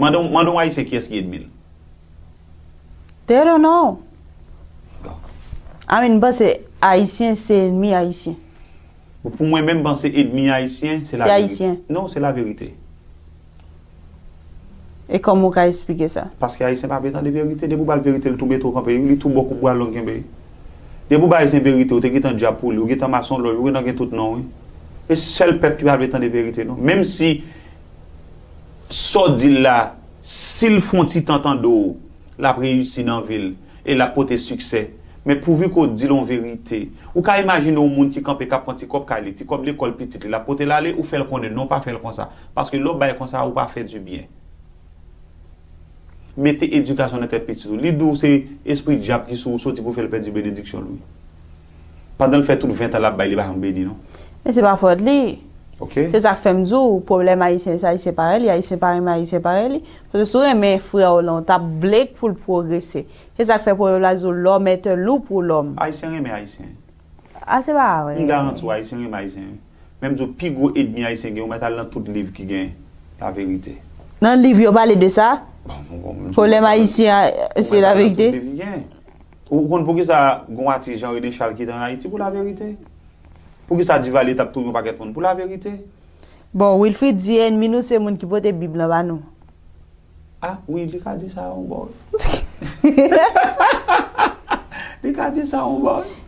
Mande yon mande yon ayisyen kiyès ki edmi l. They don't know. I mean m panse ayisyen se enmi ayisyen. Bon pou mwen menm m panse edmi ayisyen se Se ayisyen. Non se laverite. E kòman ou ka esplike sa? Paske ayisyen pa vle tande verite. Depi ou ba l verite li tou mete w kanpe wi, li tou ba w kout bwa long kenbe. Depi ou bay ayisyen verite ou te gentan dyab pou li, ou gentan masonlòj, ou gentan gen tout non wi. E sèl pèp ki pa vle tande verite non. Menm si Sa w di l la, si l fon ti tan tande w, l ap reyisi nan vi l e l ap pote siksè. Men pouvi ke w di l on verite. Ou ka imajine on moun ki kanpe k ap pran ti kòb kay li, ti kòb lekòl pitit li, l ap pote l ale, ou fè l konnen, non pa fè l konsa. Paske lè w bay konsa, ou pa fè di byen. Mete edikasyon nan tèt pitit ou. Li di w se espri dyab ki sou ou soti pou fè l pèdi benediksyon l wi. Pandan l fè tout 20 tan lap bay li pa janm beni non. Men se pa fòt li. Ok. Se sak fèm di w pwoblèm ayisyen se ayisyen parèy li, ayisyen pa renmen ayisyen parèy li. Paske si w renmen frè w lan w tap vle k pou l pwogrese. Se sak fè pwovèb la di w l'homme est un loup pour l'homme. Ayisyen renmen ayisyen. A se pa vre. M garanti w ayisyen renmen ayisyen wi. Men m di w pi gwo edmi ayisyen gen ou mèt al nan tout liv ki gen la verite. Nan liv yo pale de sa? Bon m di w. Pwoblèm ayisyen se la verite? Ou mèt al nan tout liv ki gen. Ou konn poukisa gon atis jan René Charles ki te an Ayiti pou laverite? Poukisa Duvalier tap touye yon pakèt moun pou laverite? Bon Wilfrid di enmi nou se moun ki pote bib lan ba nou. Ah wi li ka di sa yon bò wi. Li ka di sa yon bò wi.